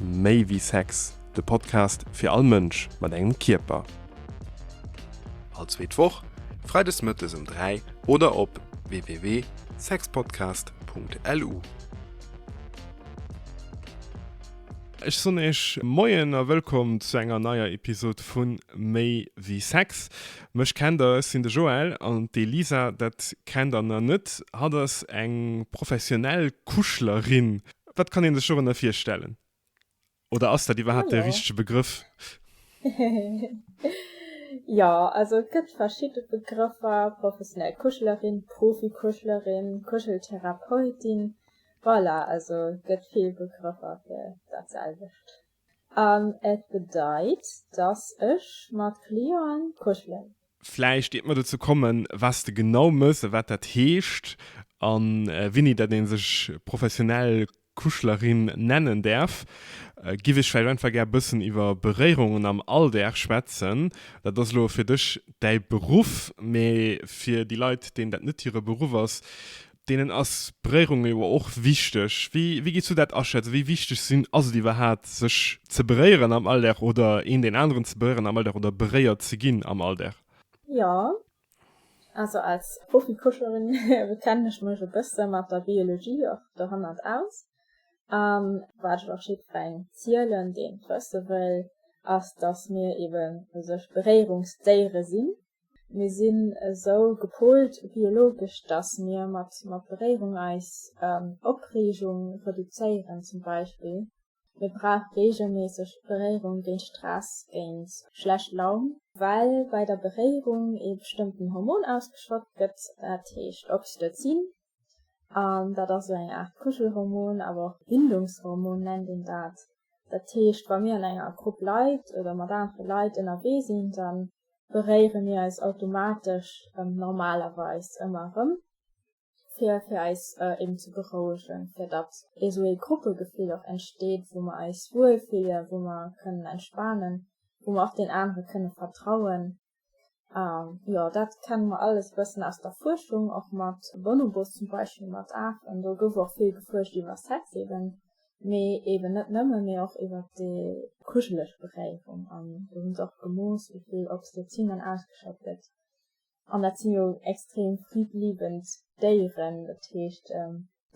Méi wéi Sex, de Podcast fir all Mënsch mat engem Kierper. All zweet Woch, freides mëttes um 3 oder op www.sexpodcast.lu. Ech soen Iech Moien a wëllkomm zu enger neier Episod vu Méi wéi Sex. Mech kennt der, ech sinn de Joël, an d'Elisa, dat kennt der na net, hatt ass eng professionell Kuschlerin. Wat kann een sech dorënner virstellen? Oder ass dat iwwerhaapt de richtege Begrëff? Jo, also et gëtt verschidde Begrëffer, professionell Kuschelerin, Profi-Kuschelerin, Kuscheltherapeutin, voilà, also gëtt vill Begrëffer fir dat selwecht. An et bedeit, dass ech mat Clienten kuschelen. Vläicht iert mer dozou kommen, was de genau mëss a wat dat heescht a wéini dat ee sech professionell Kuschlerin nennen däerf, giff ech vläicht einfach gär bëssen iwwer Beréierungen am Alldag schwätzen. Dat ass elo fir dech däi Beruff, mee fir déi Leit, deenen dat net hire Beruff ass, Deenen ass Beréierung jo och wichteg. Wéi wéi gees du dat aschätzen? Wéi wichteg sinn ass et iwwerhaapt sech ze beréieren am Alldag oder een deen aneren ze beréieren am Alldag oder beréiert ze ginn am Alldag? Jo, also als Profi-Fuerscherin kennen ech mech e bësse mat der Biologie och dohannert aus. An wat ech och jiddwerengem zielen, deen et wësse wëll, ass, dass mir eben u sech Beréierungsdéiere sinn, Mir sinn esou gepoolt biologesch, dass mir mat Beréierung eis Opreegung reduzéieren. Zum Beispill, mir brauch reegelméisseg Beréierung géint Stress, géint schlecht Laun. Well bei der Beréierung ee bestëmmten Hormon ausgeschott gëtt, dat heescht Oxytocin, an dat ass sou eng Aart Kuschelhormon, awer och Bindungshormon nennt een dat. Dat heescht, wa mir an enger Grupp Leit oder mat anere Leit ënnerwee sinn, da beréiere mir eis automatesch, normalerweis ëmmer erëm, fir fir eis eben ze berouegen, fir datt esou ee Gruppegefill och entsteet, wou mer eis wuel fillen, wou mer kënnen entspanen, wou mer och deen anere kënne vertrauen, An jo, dat kenne mer alles e bëssen aus der Fuerschung, och mat Bonobos zum Beispill, mat Afen. Do gouf och vill gefuerscht iwwer Sex eeben, mee eeben net nëmmen, mee och iwwer déi kuscheleg Beréierung. An do hu se och gemooss, wéi vill Oxytocin dann ausgeschott gëtt. An dat si jo extrem friddliebend Déieren. Dat heescht,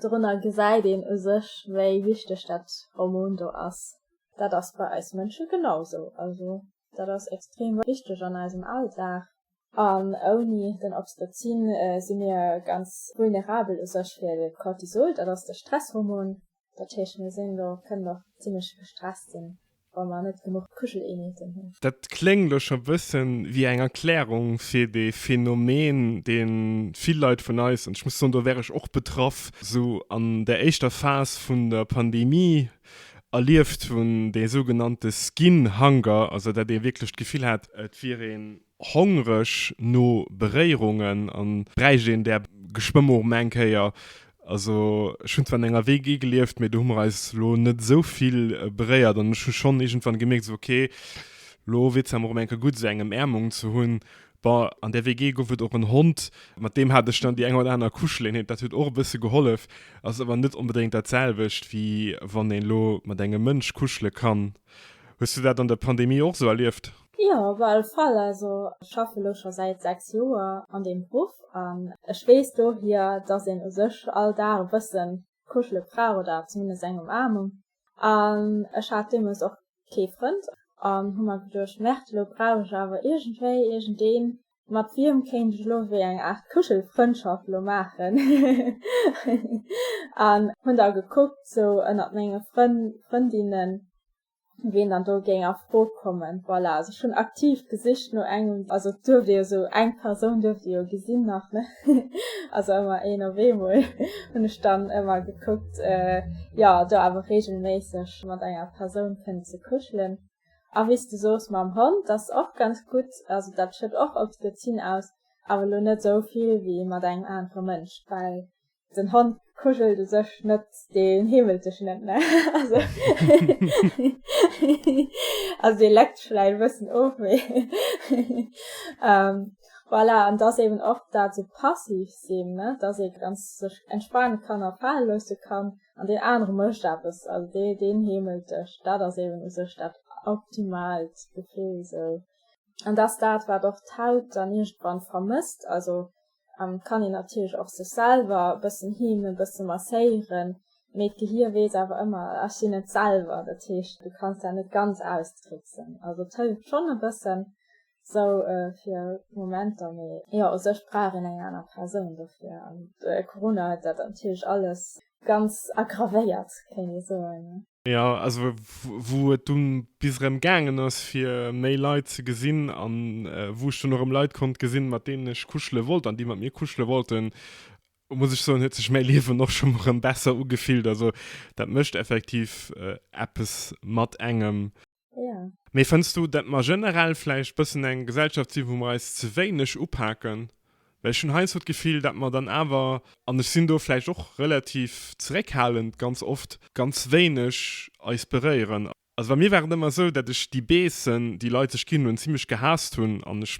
dorunner gesäit een u sech, wéi wichteg dat Hormon do ass. Dat ass bei eis Mënsche genau sou. Also Dat ass extrem wichteg an eisem Alldag. An ouni den Oxytocin si mir ganz vulnerabel u sech fir de Cortisol. Dat ass de Stresshormon. Dat heescht, mir sinn do, kënnen och zimmlech gestresst sinn, wa mer net genuch Kuscheleenheeten hunn. Dat kléngt elo scho bësse wéi eng Erklärung fir dee Phänomen, dee vill Leit vun eis, an ech muss soen, do wär ech och betraff, esou an der éischter Phas vun der Pandemie Erlieft hunn, dee sougenannte Skin Hunger, also datt ee wierklech d'Gefill hat, et wier ee hongreg no Beréierungen a bräicht een där Geschwëmm och emol eng Kéier. Also ech hunn zwar an enger WG gelieft, mee do hu mer eis elo net esou vill beréiert an ech hu schonn iergendwann gemierkt, esou ok, elo wier et Zäit emol erëm eng Kéier gutt esou eng Emärmung ze hunn, Bon, an der WG gouf et och en Hond, mat deem hat ech dann déi eng oder aner Kuscheleenheet, dat huet och e bësse gehollef, ass awer net onbedéngt dat selwecht, wéi wann een elo mat engem Mënsch kuschele kann. Hues du dat an der Pandemie och esou erlieft? Jo, op alle Fall. Also ech schaffe elo scho säit 6 Joer an deem Beruff an ech weess dohier, dass een u sech all Dag e bësse kuschele brauch oder zumindest eng Umaarmung. An ech hat deemools och kee Frënd an hu mer geduecht, Merde, elo brauch ech awer iergendwéi iergendeen, mat wiem kéint ech elo ewéi eng Aart Kuschelfrëndschaft elo maachen. An hunn da gekuckt sou ënnert menge Frënn, Frëndinnen, wien dann do géing a Fro kommen. Voilà, also ech hunn aktiv gesicht no engem, also et duerft ee jo sou eng Persoun duerft ee jo gesinn nach, ne? also ëmmer een op eemol, hunn ech dann ëmmer gekuckt jo do awer regelméisseg mat enger Persoun kënnen ze kuschelen. A wéi s de sos mam Hond, dat ass och ganz gutt, also dat schet och Oxytocin aus, awer elo net esou vill wéi mat engem anere Mënsch, well den Hond kuschelt u sech net, dee heemelt dech net, ne also also dee leckt dech vläicht e bëssen of mee. Voilà, an dass eben och dat esou passiv sinn, ne, dass ee ganz sech entspanen kann a fale loosse kann, an deen anere mécht eppes, also dee deen heemelt dech, dat ass eben u sech dat optimaalt Gefill esou. An dass dat, wat och d'Haut dann iergendwann vermësst, also kann een natierlech och sech selwer e bëssen heemen, e bësse masséieren, mee d'Gehir weess awer ëmmer, ech sinn et selwer, dat heescht, du kanns dat net ganz austricksen, also et hëlleft schonn e bëssen, Sou fir Momenter, mee jo u sech brauch een eng aner Persoun dofir an Corona huet dat natierlech alles ganz aggravéiert kéint ee soen. Jo, also wou et dunn bis erëm gaangen ass fir méi Leit ze gesinn an wou ech dunn och erëm Leit konnt gesinn mat deenen ech kuschele wollt an déi mat mir kuschele wollten, muss ech soen huet sech mäi Liewen och schonn erëm besser ugefillt. Also dat mécht effektiv eppes mat engem. Mee fënns du, datt mer generell vläicht bëssen eng Gesellschaft sinn, wou mer eis ze wéineg upaken? Well ech hunn heiansdo d'Gefill, datt mer dann awer, an ech sinn do vläicht och relativ zeréckhalend ganz oft, ganz wéineg eis beréieren. Also bei mir war et ëmmer esou, datt ech déi Beessen, déi Leit sech ginn hunn, zimmlech gehaasst hunn an ech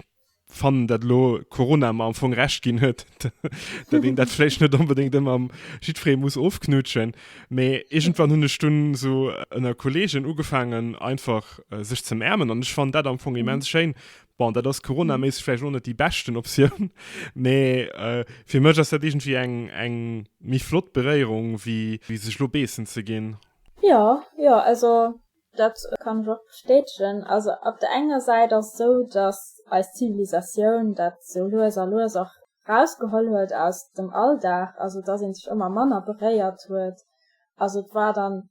fannen dat elo Corona mer am Fong Recht ginn huet, dat een dat vläicht net onbedéngt ëmmer mat jiddfereem muss ofknutschen. Mee iergendwann hunn ech dunn esou ënner Kolleegen ugefaangen einfach sech ze märmen an ech fannen dat am Fong immens schéin. Bon, dat ass Corona-méisseg vläicht elo net déi beschten Optioun, mee fir mech ass dat iergendwéi eng, eng méi flott Beréierung wéi sech elo beessen ze ginn. Jo, jo, also Dat kann ech och bestätegen. Also op der enger Säit ass esou, datt eis Zivilisatioun dat sou lues a lues och rausgeholl huet aus dem Alldag, also datt ee sech ëmmer manner beréiert huet. Also et war dann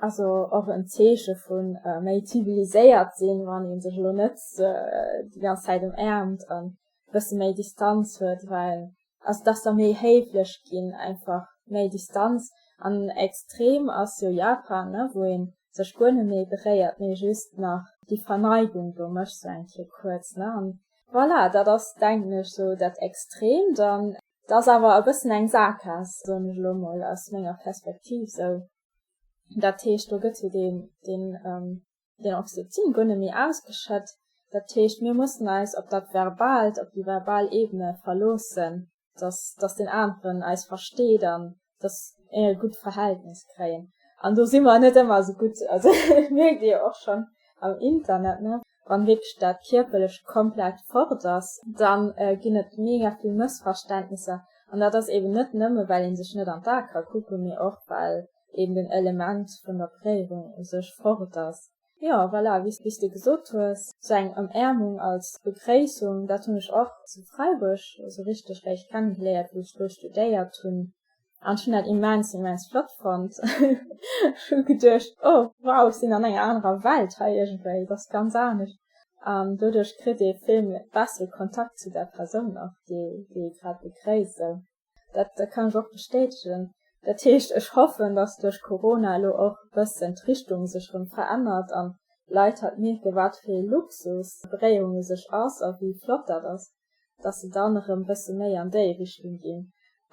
also och en Zeeche vu méi ziviliséiert sinn, wann ee sech elo net déi ganz Zäit ëmaarmt an e bësse méi Distanz huet, well ass dach da méi héiflech ginn einfach méi Distanz an extrem ass jo Japan ne wou een sech guer net méi beréiert mee just nach déi Verneigung do mécht sou eng Kéier kuerz ne an voilà dat ass denken ech sou dat extremt an et ass awer e bëssen eng Saakgaass soen ech elo mol aus menger Perspektiv sou dat heescht do gëtt jo deen deen Den Oxytocin goe méi ausgeschëtt. Dat heescht, mir mussen eis op dat Verbaalt, op déi verbal Ebene verloossen, dass, dass deen aneren eis versteet an dass mir e gutt Verhältnis kréien. An do si mer net ëmmer esou gutt. Also dat mierkt ee jo och schonn am Internet, ne, wann wierklech dat Kierperlecht komplett fort ass, da ginn et mega vill Mëssverständnisser. An dat ass eeben net nëmme, well ee sech net an d'Ae ka kucken, mee och well eben den Element vun der Prägung u sech fort ass. Jo, voilà, wéi s de gesot hues, sou eng Ëmäermung als Begréissung, dat hunn ech och zu Freiburg esou richteg réischt kennegeléiert, wéi ech do studéiert hunn, an ech hunn dat immens, immens flott fonnt. Ech hu geduecht, oh wow, ech sinn an enger anerer Welt hei iergendwéi, et ass ganz anescht. An doduerch kritt ee vill bessere Kontakt zu der Persoun och, déi ee grad begréisst. Dat kann ech och bestätegen. Dat heescht, ech hoffen, datt duerch Corona elo och e bëssen d'Richtung sech erëm verännert an d'Leit halt mierken, wat fir ee Luxus Bréiung u sech ass a wéi flott dat ass, datt se dann erëm e bësse méi an déi Richtung ginn.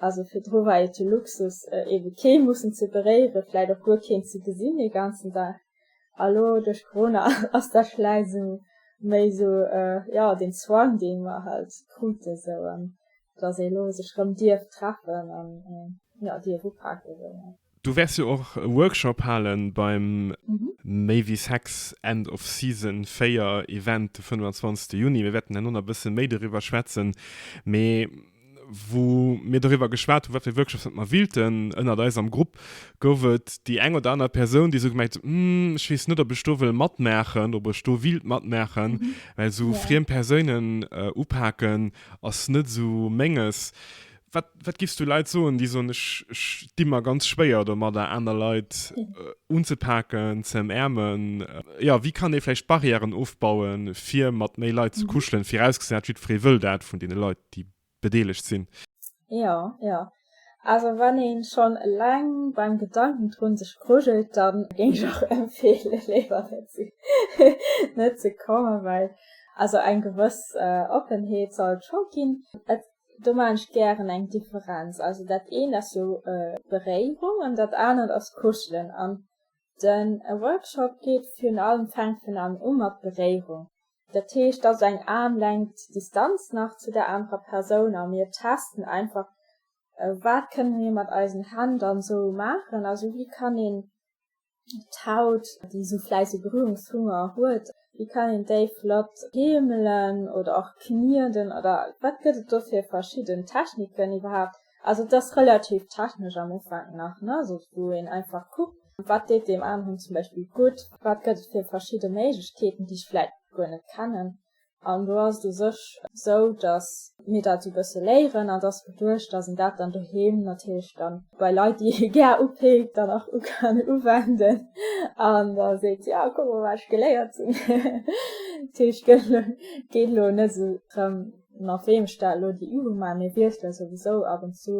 Also virdru war et jo Luxus, eebe kee mussen ze beréieren, vläit och guer keen ze gesinn ee ganzen Dag. A lo duerch Corona ass da vläicht esou méi esou, jo, deen Zwang, dee mer halt krute esou, dass ee lo sech erëm dierf treffen an, jo, dierf upake esou. Du wäers jo och e Workshop hale beim Méi wéi Sex End of Season 4 Event de 25. Juni. Mir wäerten herno nach e bësse méi doriwwer schwätzen. Mee wou mir doriwwer geschwat hunn, wat fir Workshops dat mer willten. Ënnert eis am Grupp gouf et déi eng oder aner Persoun, déi esou gemengt huet, Hm, ech weess net, ob ech do wëll matmaachen, ob ech do willt matmaachen, well esou friem Persounen upaken ass net esou Menges. Wat, wat giffs du Leit soen, déi soen, ech, ech di mer ganz schwéier domadder, aner Leit unzepaken, ze ëmäermen? Jo, wéi kann ee vläicht Barrièren ofbauen, fir mat méi Leit ze kuschelen, virausgesat, jiddweree wëll dat vun deene Leit? déi bedeelegt sinn. Jo, jo. Also wann ee schonn eleng beim Gedanken drun sech grujelt, da géing ech och empfeele léiwer net ze kommen, well also eng gewëss Oppenheet soll et scho ginn. Et, do maachen ech gären eng Differenz, also dat eent ass jo Beréierung an dat anert ass Kuschelen an de Workshop geet virun allem, fänkt virun allem u mat Beréierung. Dat heescht, dass eng Aarmlängt Distanz nach zu der anerer Persoun a mir testen einfach, wat kënne mir mat eisen Hänn dann esou maachen, also wéi kann een d'Haut, déi esou vläicht e Berührungshunger huet, wéi kann een déi flott heemelen oder och knieden oder wat gëtt et do fir verschidden Techniken iwwerhaapt, Also et ass relativ technesch am Ufank nach, ne, sou wou een einfach kuckt, wat deet deem aneren zum Beispill gutt, wat gëtt et fir verschidde Méiglechkeeten, déi ech vläit guer net kennen. An do ass et u sech esou, datt mir dat esou e bësse léieren an et ass geduecht, datt een dat dann doheem natierlech dann bei Leit, déi ee gär upikt, dann och u kann uwenden an da seet, jo, kuck mol, wat ech geléiert hunn. Dat heescht, et geet elo net esou drëm, mat weem ech dat elo déi Übung maachen, mir wiessele souwisou ab und zu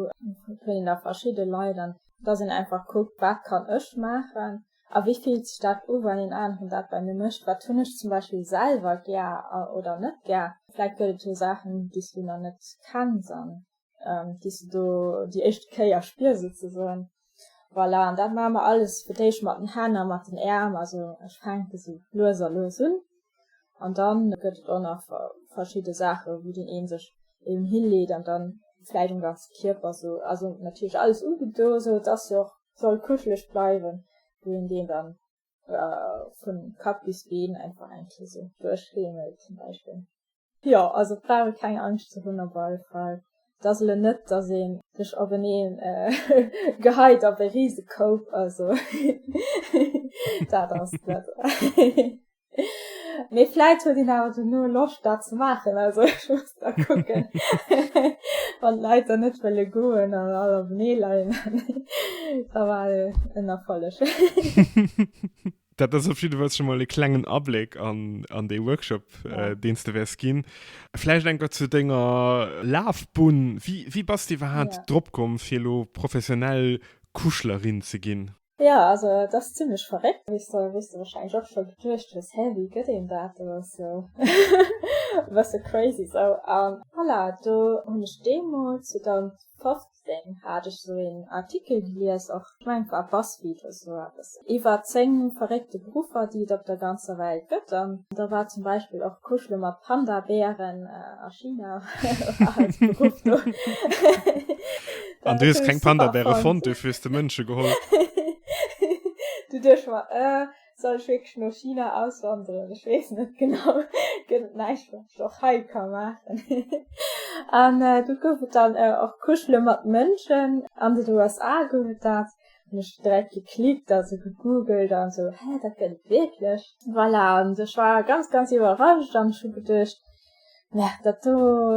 vun der verschidde Leit, an dass een einfach kuckt, wat kann ech maachen a wéi fillt sech dat u wann een aneren dat bei mir mécht, wat hunn ech zum Beispill selwer gär oder net gär, vläicht gëtt et jo Saachen déi s du nach net kenns an ähm, déi se do déi éischte Kéier spier souzesoen. Voilà, an dat ma mer alles fir déich mat den Hänner, mat den Äm, also ech fänke se lues a lues un. An dann gëtt et och nach verschidde Sache, wou den een sech eben hilleet an dann fläit um ganze Kierper so also natierlech alles ugedo, sou dass se och soll kuschelech bleiwen, wou een deen dann oder vun Kapp bis Been einfach eng Kéier esou duerchriemelt zum Beispill. Jo, also brauch ee keng Angscht ze hunn op alle Fall. Et ass elo net, dass ee sech openee geheit op e rise Koup, also dat ass et net. Mee vläit huet een awer dono Loscht dat ze maachen, also ech muss da kucken wann d'Leit dann net wëlle goen an all op nee leien da war en Erfolleg. Dat ass op jeden Fall schon mal e klengen Abléck an, an dee Workshop, ja. äh, deen du wärs ginn. Vläicht eng Wort zu denger Lafbunn. Wie, wie bass du iwwerhaapt ja. drop komm, fir lo professionell Kuschlerin ze ginn? Jo, also et ass zimlech verréckt, wéi s de warscheinlech och scho geduecht hues, Hä, wéi gëtt een dat? Et ass jo e bësse crazy sou. A voilà, do hunn ech deemools, 2015 hat ech sou een Artikel gelies och, ech mengen et war Buzzfeed oder sou eppes, iwwer 10 verréckte Beruffer, déi et op der ganzer Welt gëtt. An da war zum Beispill och kuschele mat Panda-Bären a China war als Beruff do. An du hues keng Panda-Bäre fonnt, du hues de Mënsche geholl. du duerch mal, äh, soll ich wirklich no China auswandern? Ich wees net genau. Gëtt et näischt, wat ich och hei ka maachen? An äh, du gouf et dann äh, och Kuschele mat Mënschen. An den USA gouf et dat. Hun ech direkt geklickt, also gegoogelt an so, hä, dat gëtt et wierklech? Voilà, an ech war ganz, ganz iwwerrascht an ech hu geduecht, Ja, dat do,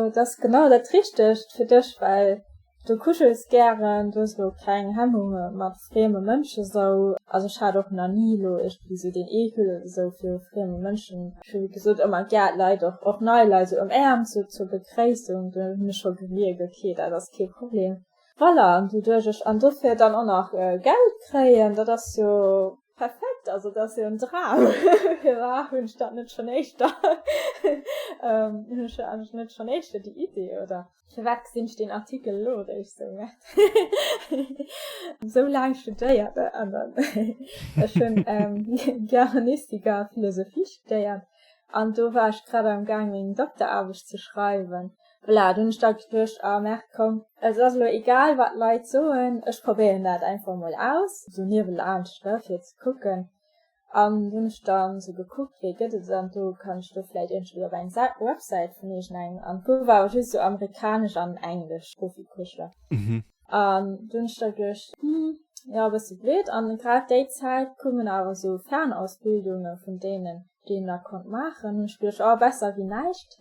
dat ass genau dat Richtegt fir dech, well du kuschels gären, du hues elo keng Hemmunge mat frieme Mënschen esou. Also ech hat och nach ni elo iergendwéi esou deen Eekel esou viru frieme Mënschen. Ech hu wéi gesot ëmmer gär d'Leit, och och nei Leit esou ëm Äerm zur zur Begréissung, do hunn ech scho gemierkt, ok, dat ass kee Problem. Voilà, an doduerch ech an dofir dann och nach Geld kréien, dat ass jo Perfekt, also dat ass jo en Dram. Firwat hunn ech dat net schonn éischter, hunn ech jo anescht net schonn éischter déi Idee oder firwat gesinn ech deen Artikel elo eréischt sou? Merci. Esou laang studéiert an ech hunn Germanistik a Philosophie studéiert an do war ech grad am gaang meng Dokteraarbecht ze schreiwen. Voilà, dunn hun ech dat geduecht, ah merkt komm, et ass elo egal wat Leit soen, ech probéieren dat einfach mol aus, sou niewelaanscht ne, fir ze kucken, an dunn hun ech dann sou gekuckt wéi gëtt et et, an do kann ech do vläit iergendwéi op eng Websäit vun iergendengem, an do war just sou amerikanesch an englesch Profikursler, an do hun ech da geduecht, hm jo bësse blöd, an grad déi Zäit koumen awer sou Fernausbildunge vun deenen deen der konnt maachen hunn ech geduecht oh besser wéi näischt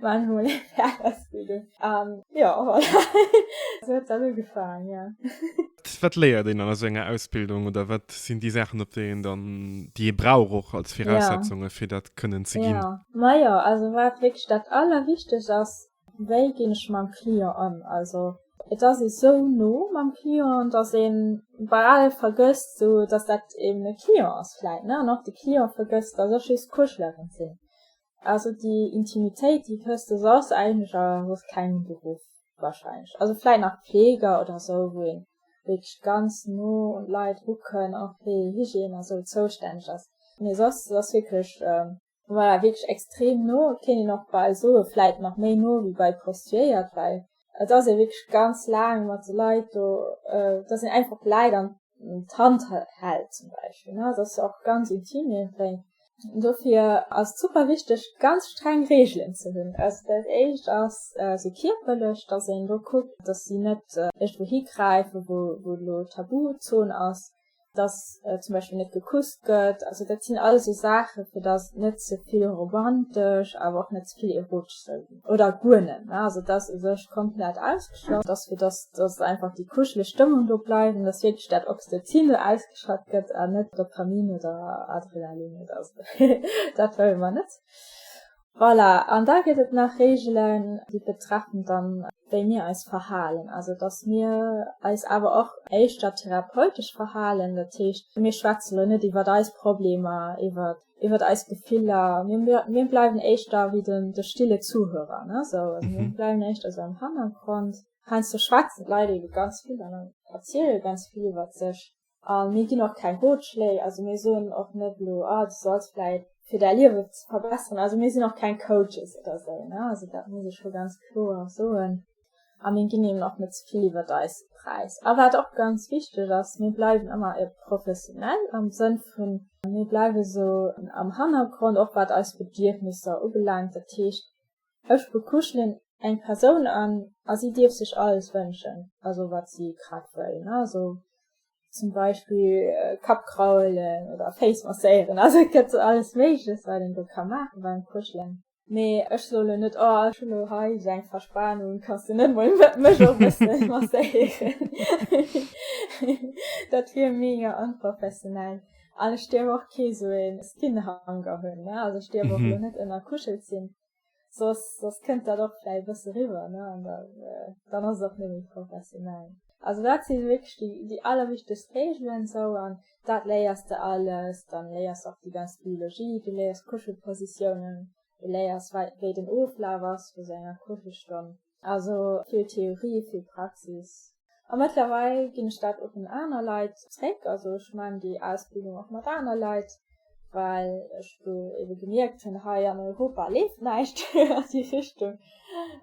maan ech mol eng Färausbildung an jo voilà sou huet dann ugefaang jo. Wat léiert een dann a sou enger Ausbildung oder wat sinn déi Saachen op déi een dann déi ee brauch och als Viraussetzungen fir dat kënnen ze ginn? Majo also wat wierklech dat allerwichtegst ass Wéi ginn ech mam Client ëm? Also et ass ee sou no mam Client, datt ee bal vergësst esou, datt dat eben e Client ass vläit, ne, an och de Client vergësst, datt ech just d'Kuschlerin sinn. Also déi Intimitéit, déi kësst, dës ass eigentlech a soss kengem Beruff warscheinlech, also vläit nach Fleeger oder esou, wou ee wierklech ganz no un d'Leit rukënn a fir Hygiène a sou zoustänneg ass, mee soss ass wierklech war wierklech extrem no, kéint een och bal soe vläit nach méi no wéi bei Prostituéiert, well et ass ee wierklech ganz laang mat de Leit do, datt een einfach d'Leit an d'Hand hält zum Beispill, ne, et ass jo och ganz intim iergendwéi. Dofir ass et super wichteg, ganz streng Reegelen ze hunn. Also dat éischt ass esou kierperlech, datt een do kuckt, datt si net iergendwou higräifen, wou elo Tabuzon ass, dass zum Beispill net gekusst gëtt, also dat sinn alles esou Saache fir dass et net ze vill romantesch awer och net ze vill erotesch soll ginn, oder guer net, ne, also dass u sech komplett ausgeschloss ass, fir dass dass einfach déi kuscheleg Stëmmung do bleift an dass wierklech dat Oxytocin do ausgeschat gëtt an net Dopamin oder Adrenalin oder esou, dat wëlle mer net. Voilà, an da gëtt et nach Reegelen, déi betreffen dann, wéi mir eis verhalen. Also datt mir eis awer och éischter therapeutesch verhalen. Dat heescht, mir schwätze elo net iwwer eis Problemer, iwwer iwwer eis Gefiller. Mir bleiwen éischter wéi de stille Zuhörer, ne sou. Also mir bleiwen éischter sou am Hannergrond. Heiansdo schwätzen d'Leit ebe ganz vill an erziele ganz vill iwwer sech. A mir ginn och keng Rotschléi. Also mir soen och net elo, ah du solls vläit, fir däi Liewe ze verbesseren, also mir sinn och keng Coaches oder esou, ne, also dat muss ech scho ganz kloer soen. A mir ginn eben och net ze vill iwwert eis Präis. A wat och ganz wichteg ass, mir bleiwen ëmmer e professionell am Sënn vun, mir bleiwe sou am Hannergrond, och wat eis Bedierfnisser ubelaangt. Dat heescht, Ech bekuschelen eng Persoun an a si dierf sech alles wënschen, also wat si grad wëll, ne, also zum Beispill Kapp kraulen oder Féiss masséieren, also et gëtt alles Méigleches, wat een do ka maachen beim Kuschelen. Mee ech soe lo net, oh ech hunn lo hei esou eng Verspanung, kanns de net mol mech och e bësse masséieren? Dat wier mega onprofessionell. an ech dir och kee so een Skinhanger hunn ne also ech dir mm -hmm. net ënner kuschelt sinn sos sos kënnt dat och fäi bësse riwer ne an da äh, dann ass och nëmi professionell also dat si wéch die die allerwichteg Regeln so an dat léiers de alles dann léiers och die ganz Biologie du léiers Kuschelpositionen du léiers wei den Oflaf ass vu senger Kuschelstonn Also vill Theorie, vill Praxis. A mëttlerweil ginn ech dat och un aner Leit zréck. Also ech maachen déi Ausbildung och mat aner Leit, well ech do ebe gemierkt hunn, hei an Europa leeft näischt an déi Richtung.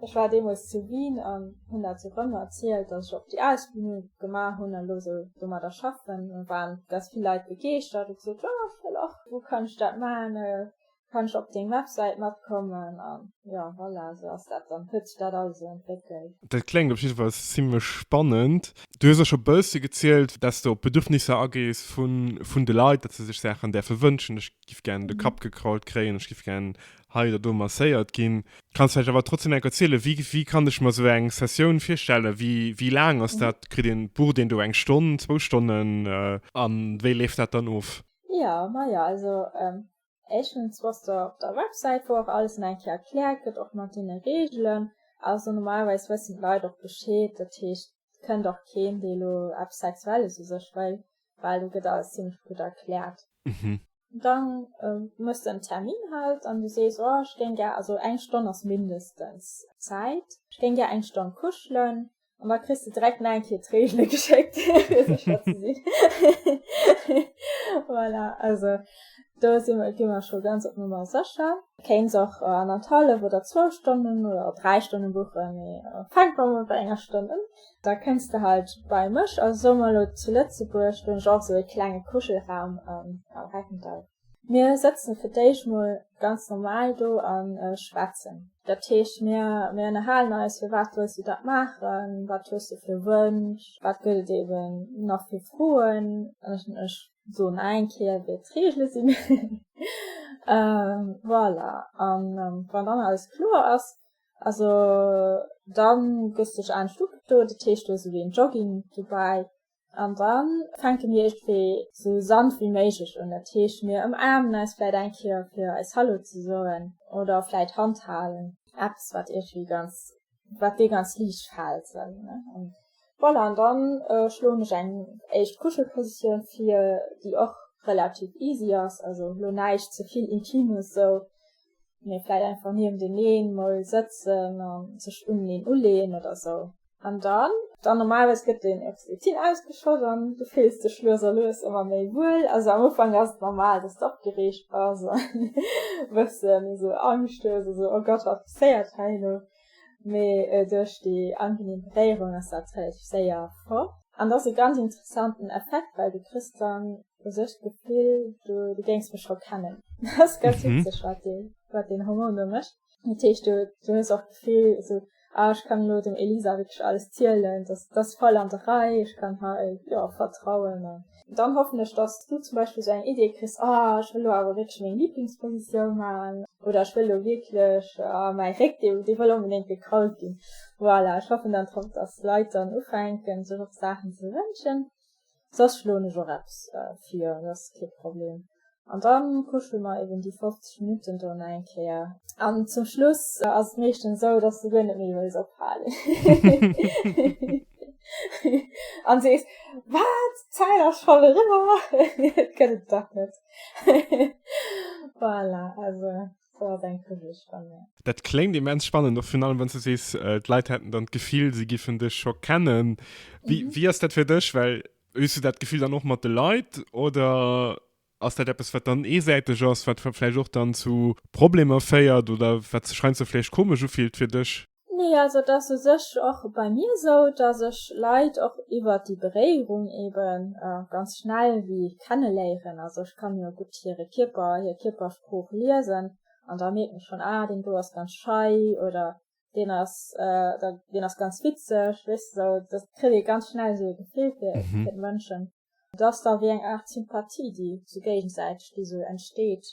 Ech war deemools zu Wien an hunn dat sou rëm erzielt, datt ech och déi Ausbildung gemaach hunn a lo sou domadder schaffen. Da waren ganz vill Leit begeeschtert a hu gesot, jo ech wëll och, wou kann ech dat maachen. kann ech op deng Websäit matkommen an jo voilà esou ass dat dann huet sech dat alles esou entwéckelt. Dat kléngt op jidde Fall zimmlech spannend. Du hues och scho e bësse gezielt, dass s de op Bedürfnisser agees vun de Leit, dass se sech Saachen däerfe wënschen, ech giff gären de Kapp gekrault kréien, ech giff gären hei oder do masséiert ginn. Kanns du vläicht awer trotzdem enk erzielen, wéi kann ech mer esou eng Sessioun virstellen, wéi laang ass dat? Kritt een bucht een do eng Stonn, zwou Stonnen a wéi leeft dat dann of? Jo majo also Eischtens wosst der op der Websäit wou och alles an eng Kéier erklärt gëtt och mat deene Regelen, also normalerweis wëssen d'Leit och Bescheed, dat heescht et kënnt och keen dee lo eppes sexuelles u sech wëll, well do gëtt alles zimlech gutt erklärt. Dann muss de en Termin halt an du sees oh ech géing gär, also eng Stonn ass mindestens Zäit, ech géing gär eng Stonn kuschelen, an da kriss du direkt nach eng Kéier d'Reegele geschéckt, fir sécher ze sinn. voilà, also do si mer, gi mer scho ganz op Nummer sécher. Kéins och anerthalef oder zwou Stonnen oder dräi Stonne buchen, mee fänkt mer emol bei enger Stonn un. Da kënns de halt bei mech. Also soe mer elo zu Lëtzebuerg, do hunn ech och esou e klenge Kuschelraum am Reckental. Mir sëtzen fir d'éischt mol ganz normal do a schwätzen. Dat heescht, mir ënnerhalen eis, firwat wëlls du dat maachen, wat hues du fir Wënsch, wat gëtt et eeben nach fir Froen, ech soen eng Kéier, wéi d'Reegele sinn, voilà. A wann dann alles kloer ass, also da gëss du duerch anescht ugekloe, dat heescht, do ass ewéi en Jogging dobäi, An da fänke mir iergendwéi esou sanft wéi méiglech un. Dat heescht, mir ëmaarmen eis vläit eng Kéier fir eis Hallo ze soen oder vläit Hand halen, eppes wat iergendwéi ganz, wat dir ganz liicht fält esou, ne. Voilà, an da schloen ech eng éischt Kuschelpositioun vir, déi och relativ easy ass, also elo näischt ze vill Intimes esou. mee vläit einfach niewendeeneen mol sëtzen a sech uneneen uleeën oder esou. An dann? Dann normalerweis gëtt den Oxytocin ausgeschott an du fills dech lues a lues ëmmer méi wuel. Also am Ufank ass et normal, dass de opgereegt bass a e bëssen esou Angscht hues, esou oh Gott, wat passéiert hei elo? mee duerch déi angenehm Beréierung ass dat relativ séier fort. An dat ass e ganz interessanten Effekt, well du kriss dann u sech d'Gefill, du géings mech scho kennen. Dat ass ganz witzeg, wat deen Hormon do mécht. Dat heescht, du hues och d'Gefill esou, ah, ech kann elo dem Elisa wierklech alles zielen, dat ass voll an der Rei, ech kann hei vertrauen. Dann hoffen ech, dass du zum Beispill esou eng Idee kriss, Ah, ech wëll elo awer wierklech meng Liblingspositioun maachen. Oder ech wëll elo wierklech, ah, mäi Réck, dee, dee wëll onbedéngt gekrault ginn. Voilà, ech hoffen dann drop, dass d'Leit dann ufänken, sech och Saachen ze wënschen. Soss schloen ech och eppes vir, dat ass kee Problem. An da kucke mer eben déi 50 Minutten do nach eng Kéier. An zum Schluss ass et meeschtens esou, dass du guer net méi wëlls ophalen. An sees, Wat? D'Zäit ass schonn eriwwer? Et gëtt et dach net. Voilà, also do ass eng Kugelch bei mir. Dat kléngt immens spannend, och virun allem, wann s du sees, d'Leit hätten dann d'Gefill, si giffen dech scho kennen. Wéi ass dat fir dech? Well Hues du dat Gefill dann och mat de Leit oder ass dat eppes, wat dann eesäiteg ass, wat vläicht och dann zu Problemer féiert oder wat sech heiansdo vläicht komesch ufillt fir dech? Nee, also et ass u sech och bei mir esou, dass ech Leit och iwwert déi Beréierung ebe ganz schnell ewéi kenneléieren. Also ech kann jo gutt hire Kierper, hir Kierpersprooch liesen an da mierken ech schonn, ah deen do ass ganz schei oder deen ass äh, da, deen ass ganz witzeg wis so dat kritt ee ganz schnell so gefil fir mhm. fir Mënschen dass da wie eng Art Sympathie déi so géigensäiteg déi so entsteet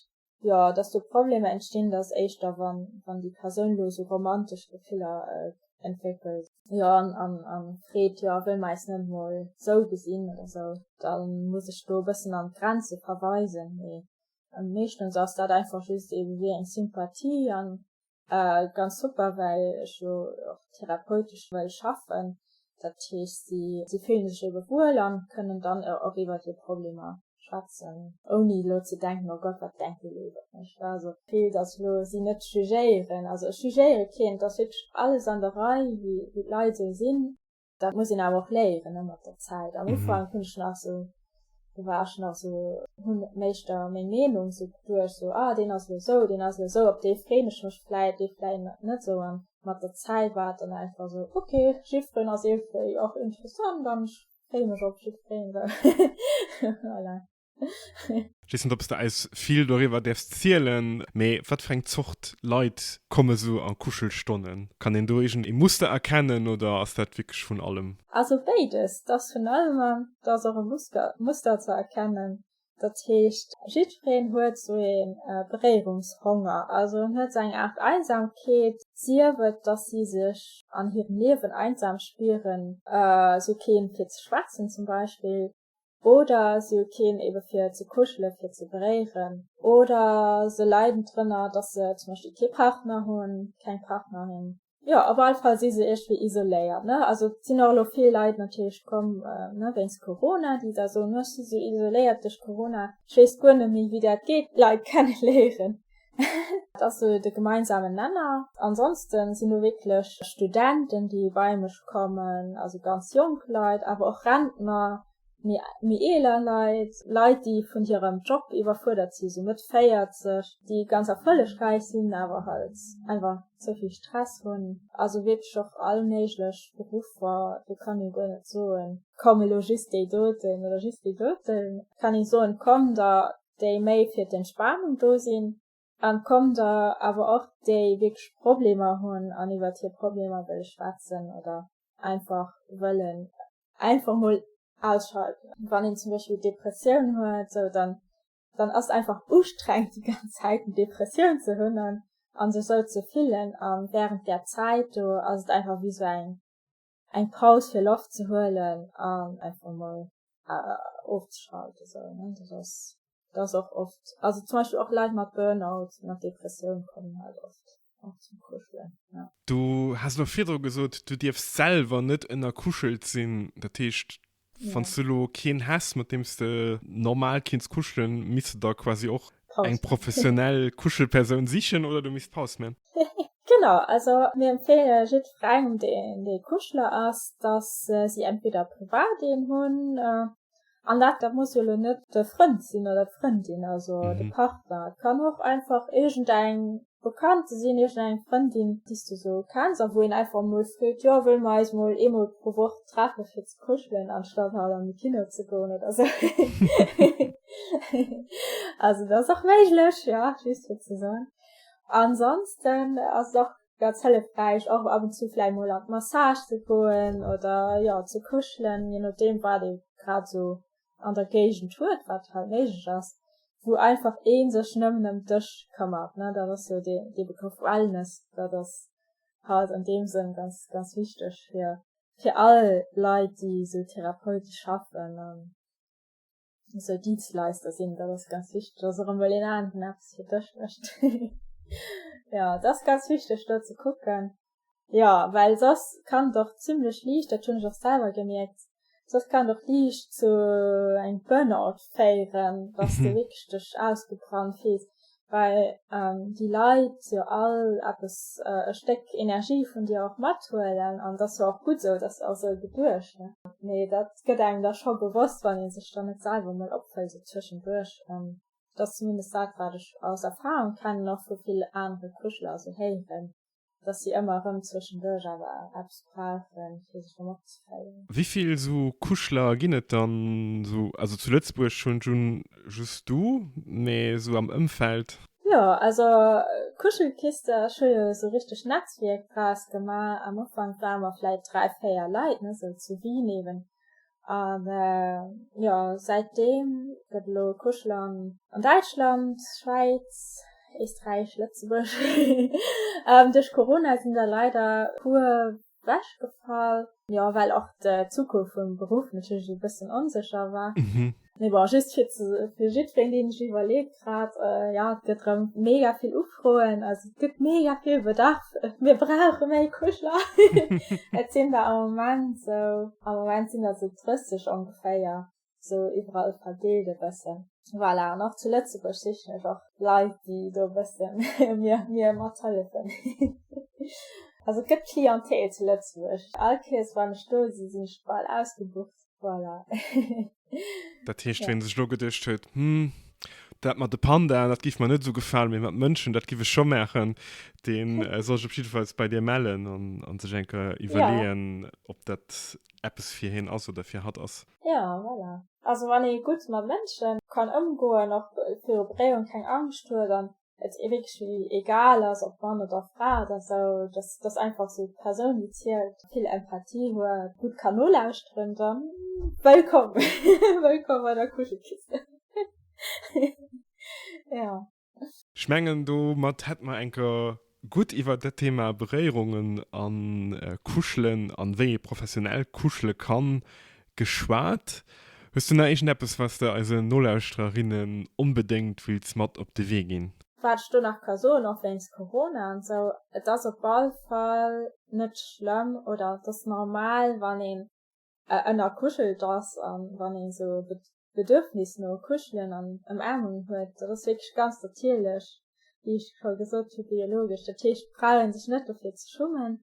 ja dass du Probleme entstinn dass éischter wann wann die Persoun lo so romantesch Gefiller äh, entwickelt ja an an an freet ja wëll meis net moll so gesinn oder so dann muss ech do bëssen an Grenze verweisen nee am meeschtens ass dat einfach just eben wie eng Sympathie an Ganz super, well ech jo och therapeutesch wëll schaffen. Dat heescht, si si fillen sech ebe wuel an kënnen dann och iwwert hir Problemer schwätzen, ouni elo ze denken, oh Gott, wat denke Léit iwwert mech. Also d'Ziel, dass ech elo si net jugéieren, also ech jugéiere keen, et ass wierklech alles an der Rei, wéi d'Leit esou sinn. Dat muss een awer och léieren ne, mat der Zäit. Am Ufank mhm. hunn ech nach so do war ech nach so hunn méichter meng Meenung so duerch so ah den ass lo so, den ass lo so, op dee freen ech mech vläit, dee vläit net so an mat der Zäit war dann einfach so okay Chiffren ass ee vläit och interessant an ech free mech op Chiffren voilà. Ich weiß nicht, ob du eis viel darüber darfst erzählen, aber was für eine Zort Leute kommen so an Kuschelstonnen? Kann een do irgend een Muster erkennen oder ass dat wirklich vun allem? Also béides, d'ass vun allem an d'ass och e Musker Muster ze erkennen. Dat heescht, jiddwereen huet sou ee Beréierungshonger, also en huet sou eng Aart Einsamkeet, sief et, datt si sech an hirem Liewen einsam spieren, sou keen fir ze schwätzen zum Beispill, Oder si hu keen ebe fir ze kuschelen, fir ze beréieren. Oder se leiden drënner, dass se zum Beispill kee Partner hunn, keng Partnerin. Jo, op alle Fall si se iergendwéi isoléiert. Also et sinn och elo vill Leit natierlech komm wéinst Corona, déi da soen, ech si sou isoléiert duerch Corona, ech weess guer net méi, wéi dat geet, d'Leit kenne léieren. Dat ass sou de gemeinsamen Nenner. Ansonsten sinn do wierklech Studenten, déi bei mech kommen, also ganz jonk Leit, awer och Rentner, méi méi eeler Leit, Leit, déi vun hirem Job iwwerfuerdert sinn, sou Mëtt 40, déi ganz erfollegräich sinn, awer halt einfach ze vill Stress hunn. Also wierklech och all méiglech Beruffer, do kann ee guer net soen, komm elo just déi doten oder just déi doten. Kann ee soen, komm da déi méi fir d'Entspanung do sinn, an komm der awer och déi wierklech Problemer hunn an iwwert hir Problemer wëlle schwätzen oder einfach wëllen einfach mol ausschalten. Wann een zum Beispill Depressioun huet, sou dann dann ass et einfach ustrengend déi ganz Zäit eng Depressioun ze hunn an sech sou ze fillen, a wärend där Zäit do ass et einfach wéi sou eng eng Paus fir Loft ze huelen an einfach emol ofzeschalten sou ne, dat ass dat ass och oft also zum Beispill och Leit mat Burnout mat Depressioun kommen halt oft och zum Kuschelen ja. Du has elo virdru gesot du dierfs selwer net ënnerkuschelt sinn, dat heescht Wann du lo keen häss mat deems de normal kinns kuschelen, misst du da quasi och eng professionell Kuschelpersoun sichen oder du misst Paus man? Genau, also mir empfehle jiddferengem deen dee Kuschler ass, dass si entweder privat een hunn, an dat dat muss jo lo net de Frënd sinn oder d'Frëndin, also de Partner, et kann och einfach iergendeng Wou kennt de sinn? Iergend eng Frëndin, déi's du sou kenns a wou een einfach emol freet, jo wëll mer eis mol eemol pro Woch treffe fir ze kuschelen anstatt halt an de Kino ze goen oder sou hehe also dat ass och méiglech jo just fir ze soen. Ansonsten ass et och ganz hëllefräich och ab und zu vläicht mol an d'Massage ze goen oder jo ze kuschelen, je nodeem wat ee grad sou an der Géigend huet, wat hei méiglech ass, wou einfach ee sech nëmmen ëm dech këmmert, ne, dat ass jo dee, dee Begrëff Wellness, dat ass halt an deem Sënn ganz, ganz wichteg fir, fir all Leit, déi esou therapeutesch schaffen an esou Dietsleister sinn, dat ass ganz wichteg, dass och emol een aneren eppes fir dech mécht. Jo, et ass ganz wichteg, do ze kucken, Jo, well soss kann et och zimmlech liicht, dat hunn ech och selwer gemierkt, soss kann et och liicht zu engem Burnout féieren, dass de wierklech dech ausgebrannt fills, well déi Leit jo all eppes, e Stéck Energie vun dir och mathuelen an et ass jo och gutt esou, dass se och esou geduecht hunn. Mee dat gëtt engem da scho bewosst, wann ee sech dann net selwer emol opfëllt esou tëschenduerch. Dat ass zumindest dat, wat ech aus Erfarung kennen, och vu ville anere Kuschler esou héieren. dass si ëmmer erëm zwëschenduerch awer eppes brauche fir sech erëm opzeféieren. Wivill esou Kuschler ginn et dann esou, also zu Lëtzebuerg schon just du, mee esou am Ëmfeld? Jo, also Kuschelkiste, ech hu jo esou richteg Netzwierk draus gemaach. Am Ufank ware mer vläit dräi, véier Leit, net esou zu Wien eben, an jo seit deem gëtt elo Kuschlang an Däitschland, Schwäiz, Eesträich, Lëtzebuerg duerch Corona sinn der leider puer wechgefall, jo well och d'Zukunft vum Beruff natierlech e bëssen onsécher war. Mee bon, just fir ze, fir jiddween, deen ech iwwerleet grad, jo, et gëtt erëm mega vill Ufroen, also et gëtt mega vill Bedarf, mir brauche méi Kuschler. Et sinn der am Moment esou, am Moment sinn der esou 30 ongeféier, esou iwwerall verdeelt e bëssen. Voilà, an och zu Lëtzebuerg sichen ech och Leit, déi do e bëssen mir, mir mathëllefen. Also et gëtt Clientèle zu Lëtzebuerg, all Kees, wann ech do sinn, sinn ech bal ausgebucht. Voilà. dat heescht, ja. wien sech lo geduecht huet, hm, dat mat de Panda, dat gif mer net so gefalen, mee mat Mënschen, dat gif ech scho maachen, deen äh, soll sech op jiddefalls bei dir mellen an, an sech eng Kéier iwwerleeën, ja. ob dat eppes fir hien ass oder fir hatt ass. Ja, voilà. Also wann ee gutt mat Mënschen kann ëmgoen, och viru Bréiung keng Angscht huet an et ee wierklech egal ass, ob Mann oder Fra, dass ou dass dass einfach sou d'Persoun déi zielt, vill Empathie huet, gutt kann nolauschteren, da wëllkomm wëllkomm bei der Kuschelkiste jo. Ech mengen domat hätt mer enker gutt iwwert dat Thema Beréierungen a Kuschelen an wéi ee professionell kuschele kann Geschwat. Hues du nach iergendeppes, wat s de eisen Nolauschtererinnen onbedéngt wills mat op de Wee ginn? Wat ech do nach ka soen, och wéinst Corona an esou, et ass op all Fall net schlëmm oder et ass normal, wann een ënnerkuschelt ass a wann ee sou d'Bedürfnis no Kuschelen an Ëmaarmungen huet. Dat ass wierklech ganz natierlech, wéi ech scho gesot hu, biologesch. Dat heescht, d'Frae hu sech net dofir ze schummen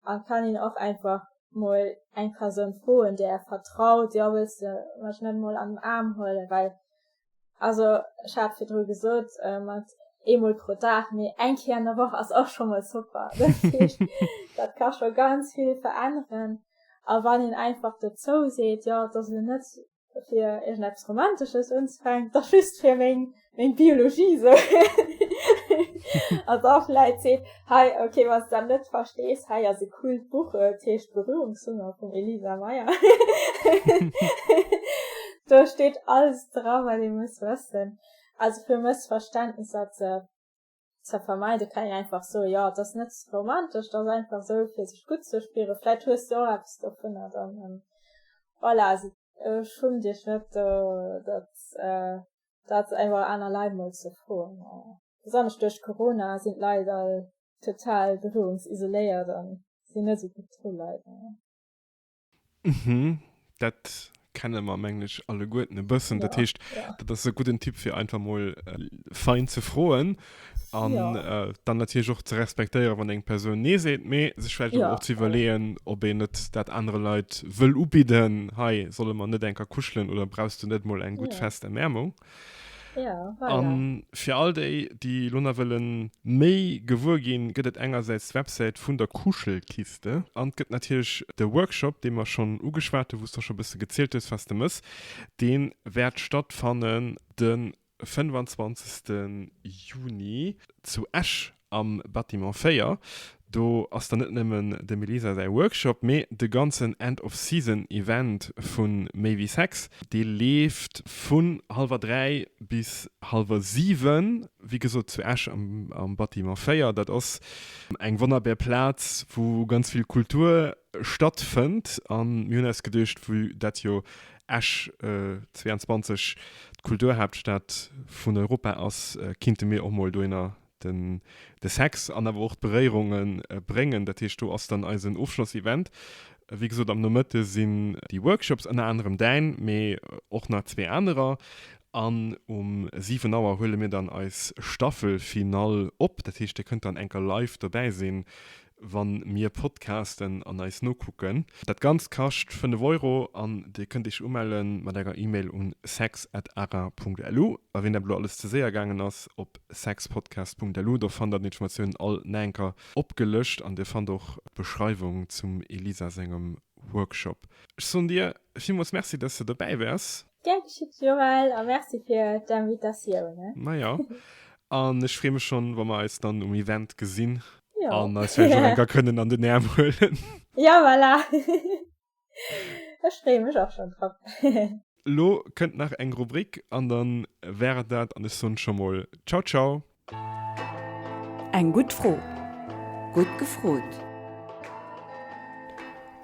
an kann een och einfach mol eng Persoun froen där är vertraut, jo wëlls de mech net mol an den Aarm huelen, well also ech hat virdru gesot äh, mat eemol pro Dag, mee eng Kéier an der Woch ass och scho mol super. Dat ka scho ganz vill veränneren. A wann een einfach dozou seet, jo et ass lo net fir irgend eppes Romantesches unzefänken, da just fir meng, meng Biologie so. also auch Leute seht, hey, okay, was du dann nicht verstehst, hey, also cool Buch, äh, das heißt Berührungshunger von Elisa Meyer. da steht alles dran, was ich muss wissen. Also für Missverständnisse zu ze vermeiden, kann een einfach soen, jo, et ass net romantesch, et ass einfach esou fir sech gutt ze spieren. Vläit hues de och eppes dovunner dann. Voilà, also schummt iech net do dat dat iwwer aner Leit mol ze froen. Besonnesch duerch Corona sinn d'Leit all total berührungsisoléiert a sinn net esou gutt dru leider. Mhm, dat kenne mer mengen ech alleguerten e bëssen. Dat heescht, dat ass e gudden Tipp fir einfach mol fein ze froen an dann natierlech och ze respektéiere wann eng Persoun nee seet, mee sech vläicht awer och ze iwwerleeën, ob een net dat anere Leit wëll ubidden, hei solle mer net enker kuschelen oder brauchs du net mol eng gutt fest Erwäermung? Ja, voilà. An fir all déi, déi elo nach wëllen méi gewuer ginn, gëtt et engersäits d'Websäit vun der Kuschelkiste an et gëtt natierlech de Workshop, dee mer schonn ugeschwat hunn, wou s de scho e bësse gezielt hues, was de mëss. Dee wäert stattfannen de 25. Juni zu Esch Am Bâtiment 4, do ass dann net nëmmen dem Elisa säi Workshop, mee de ganzen End of Season Event vu Méi wéi Sex. Dee leeft vun hallwer dräi bis hallwer siwen, wéi gesot zu Esch am Bâtiment 4. Dat ass eng wonnerbär Plaz, wou ganz vill Kultur stattfënnt. A mir hunn eis geduecht, vu dat jo Esch 22 d'Kulturhaaptstad vun Europa ass, kinnte mir och mol dohinner Den de Sex an awer och d'Beréierungen bréngen. Dat heescht do ass dann eisen Ofschlossevent. Wéi gesot am Nomëtte sinn déi Workshops, ënner anerem däin, mee och nach zwee anerer. An um 7 Auer huele mir dann eis Staffelfinall op. Dat heescht dir kënnt dann enker live dobäi sinn. wann mir podcasten an eis nokucken. Dat ganzt kascht 5 Euro an dir kënnt iech umellen mat enger Email un sex at ara punkt lu a ween dat elo alles ze séier gaangen ass, op sexpodcast punkt lu do fannt der den Informatiounen all naenker opgelëscht an dir fannt och d'Beschreiwung zum Elisa sengem Workshop. Ech soen dir villmools Merci dass de dobäi wars. Gär geschitt Joël a merci fir d'Invitatioun. Na ja, an ech freeë mech schonn, wa mer eis dann um Event gesinn an eis vläicht nach eng Kéier kënnen an den Aarm huelen. Jo, voilà. Ech freeë mech och schonn drop. Elo kënnt nach eng Rubrik an da war et dat an ech soen scho mol Ciao ciao. Eng gutt Fro. Gutt gefrot.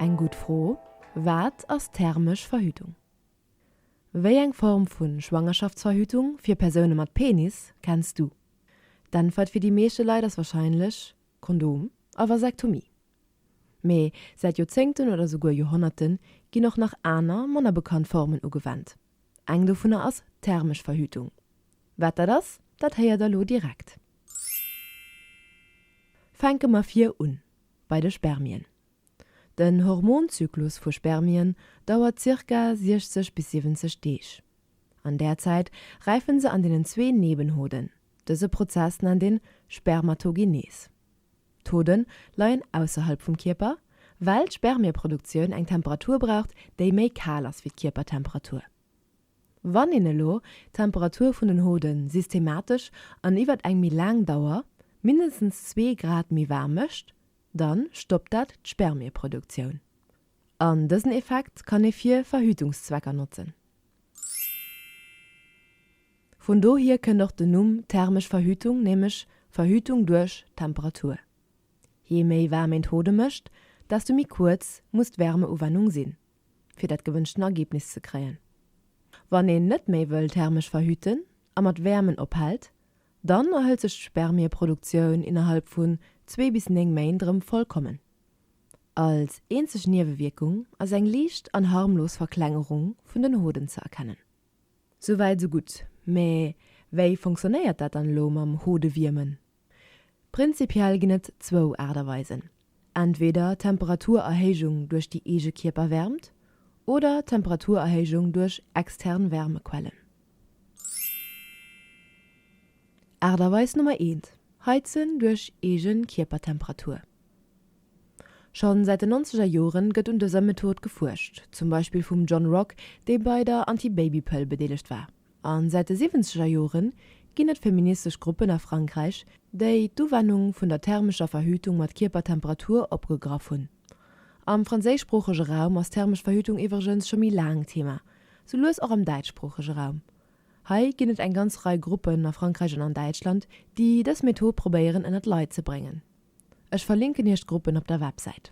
Eng gutt Fro, Wat ass thermesch Verhütung? Wéi eng Form vu Schwangerschaftsverhütung fir Persoune mat Penis kenns du? D'Äntwert fir déi meeschte Leit ass warscheinlech Kondom a Vasektomie. Mee säit Joerzéngten oder souguer Joerhonnerte ginn och nach aner, manner bekannt Formen ugewennt. Eng dovunner ass d'thermesch Verhütung. Wat dat ass, dat héiert der lo direkt. Fänke mer vir un bei de Spermien. Den Hormonzyklus vu Spermien dauert zirka 60 bis 70 Deeg. An där Zäit räifen se an deenen zwee Nebenhoden, dëse Prozess nennt een Spermatogenees. D'Hoden leien ausserhalb vum Kierper, well d'Spermieproduktioun eng Temperatur braucht, déi méi kal ass wéi d'Kierpertemperatur. Wann een elo d'Temperatur vun den Hode systematesch an iwwer eng méi laang Dauer mindestens zwee Grad méi waarm mécht, dann stoppt dat d'Spermieproduktioun. An dësen Effekt kann ee fir Verhütungszwecker notzen. Vun dohier kënnt och den Numm thermesch Verhütung, nämlech Verhütung duerch Temperatur. Je méi waarm een d'Hode mécht, desto méi kuerz muss d'Wärmeuwennung sinn, fir dat gewënschten Ergebnis ze kréien. Wann een net méi wëll thermesch verhüten a mat Wäermen ophält, Dann erhëlt sech d'Spermieproduktioun innerhalb vun zwee bis néng Méint erëm vollkommen. Als eenzeg Niewewierkung ass eng liicht an harmlos Verklengerung vun den Hoden ze erkennen. Souwäit sou gutt, mä wéi fonctionnéiert dat dann elo mam Hodewiermen? Prinzipiell ginn et zwou Aart a Weisen, Entweder Temperaturerhéijung duerch déi eege Kierperwäermt oder Temperaturerhéijung duerch extern Wärmequellen. Aarterweis Nummer eent, Heizen duerch eege Kierpertemperatur. Schonn säit den nonzeger Joren gëtt un dëser Method gefuerscht, zum Beispill vum John Rock, dee bei der Antibabypëll bedeelegt war. A säit de siwwenzeger Jore ginn et feministesch Gruppen a Frankräich, déi d'Uwennung vun der thermescher Verhütung mat Kierpertemperatur opgegraff hunn. Am franséischsproochege Raum ass thermesch Verhütung iwwregens scho méi laang Thema, sou lues och am däitschsproochege Raum. Hei ginn et eng ganz Rei Gruppen a Frankräich an an Däitschland, déi dës Method probéieren ënnert d'Leit ze bréngen. Ech verlinken iech d'Gruppen op der Websäit.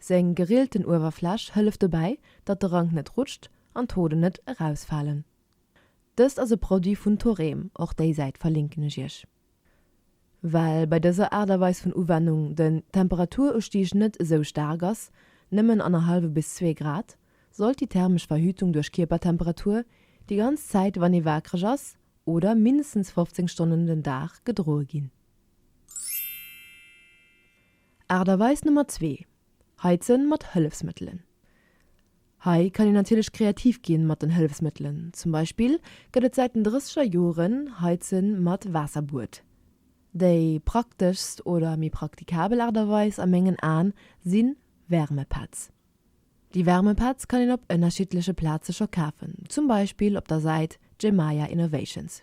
Seng gerielten Uewerfläch hëlleft dobäi, datt de Rank net rutscht an d'Hoden net erausfalen. Dëst ass e Produit vun Thorem, och déi Säit verlinken ech iech. Well bei dëser Aart a Weis vun Uwennung den Temperaturustieg net esou staark ass, nëmmen annerhallwe bis zwee Grad, sollt déi thermesch Verhütung duerch Kierpertemperatur déi ganz Zäit wann ee waakreg ass oder mindestens 15 Stonnen den Dag gedroe ginn. Aart a Weis Nummer zwee, Heizen mat Hëllefsmëttelen. Hei kann een natierlech kreativ ginn mat den Hëllefsmëttelen. Zum Beispill gëtt et säit den drësseger Joren Heizen mat Waasserbuet. Déi prakteschst oder méi praktikabel Aart a Weis a mengen Aen sinn Wärmepads. Déi Wärmepads kann een op ënnerschiddleche Plaze scho kafen, zum Beispill op der Säit Gemaia Innovations.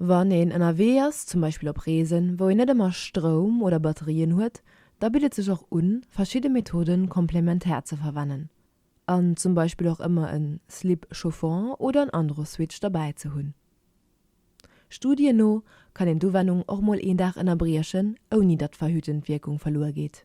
Wann een ënnerwee ass, zum Beispill op Reesen, wou een net ëmmer Stroum oder Batterien huet, da bitt et sech och un, verschidde Methoden komplementär ze verwennen an zum Beispill och ëmmer en Slip chauffant oder en Androswitch derbäi ze hunn. Studien no kann een d'Uwennung och mol een Dag ënnerbriechen, ouni datt d'verhütend Wierkung verluer geet.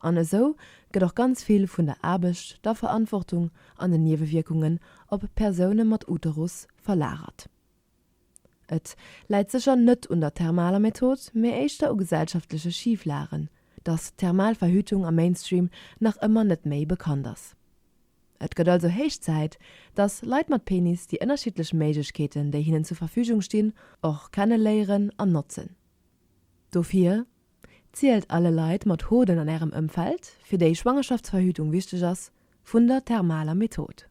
An esou gëtt och ganz vill vun der Aarbecht, der Verantwortung an den Niewewierkungen op Persoune mat Uterus verlagert. Et läit sécher net un der thermaler Method, mee éischter u gesellschaftleche Schiflagen, datt d'thermal Verhütung am Mainstream nach ëmmer net méi bekannt ass. Et gëtt also héich Zäit, datt Leit mat Penis déi ënnerschiddlech Méiglechkeeten, déi hinnen zur Verfügung stinn, och kenneléieren an notzen. Dofir Zielt alle Leit mat Hoden an Ärem Ëmfeld, fir déi Schwangerschaftsverhütung wichteg ass, vun der thermaler Method.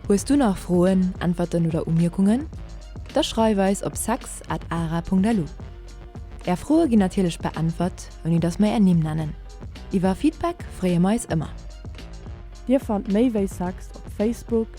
Hues du nach Froen, Äntwerten oder Umierkungen? Da schreif eis op sex at ara Punkt lu. Är Froe ginn natierlech beäntwert, ouni datt mer är Nimm nennen. Iwwer Feedback freeë mer eis ëmmer. Dir fannt méi wéi Sex op Facebook,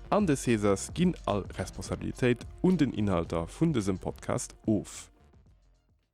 An de Césars ginn all Responsabilitéit un den Inhalter vun dësem Podcast of.